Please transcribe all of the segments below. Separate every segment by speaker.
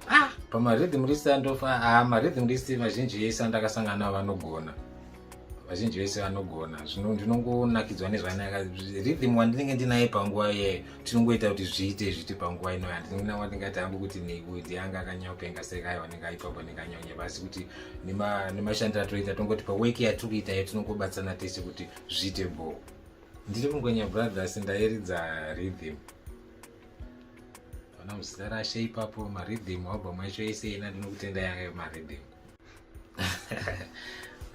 Speaker 1: ah, pamarhythm list andofa ah, marhythm list vazhinji vese andakasangana navo vanogona vazhinji vese vanogona zvino ndinongonakidzwa nezvanaka rhythm wandinenge ndinaye panguva iyeyo tinongoita kuti zviite zviti panguva inoyo handina wandingati hangu kuti nekuti yanga akanyaopenga sekai wanenge aipa kwanenge anyaunya pasi kuti nemashandiro atoita tongotipa weki yatiri kuita iyo tinongobatsana tese kuti zviite bhoo Ndiri Mungwenya Brothers ndairidza rhythm. Ona muzita rashe ipapo marhythm album yacho yese ina ndinokutenda yanga marhythm.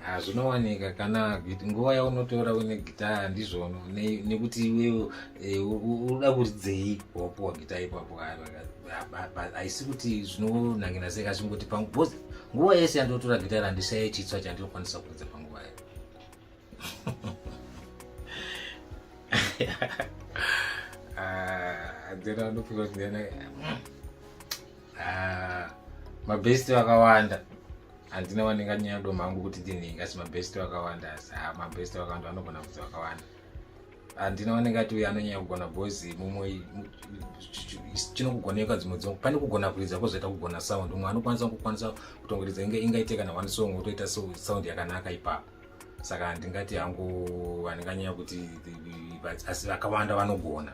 Speaker 1: Hazvinowanika ah, kana nguva yaunotora une gitaya ndizvono nekuti iwewe eh, unoda kuridzei wapuwa gitaya ipapo haisi kuti zvinonangina sei kazvingoti pangu bhozi nguva yese yandotora gitaya randishaye chitswa chandinokwanisa kuridza panguva yayo hadzera ah, ndofunga kuti ndiyana ah, mabhesti vakawanda handina wanenga nyaya do mangu kuti ndinhingi asi mabhesti vakawanda asi ah, mabhesti vakawanda vanogona kuti vakawanda handina wanenga ati uyo anonyanya kugona bhozi mumwe chinokugoneka dzimwe dzimwe pane kugona kuridza kozoita kugona sound umwe anokwanisa kukwanisa kutongoridza ingaite kana one song wotoita sound yakanaka ipapo saka handingati hangu handinganyanya kuti asi vakawanda vanogona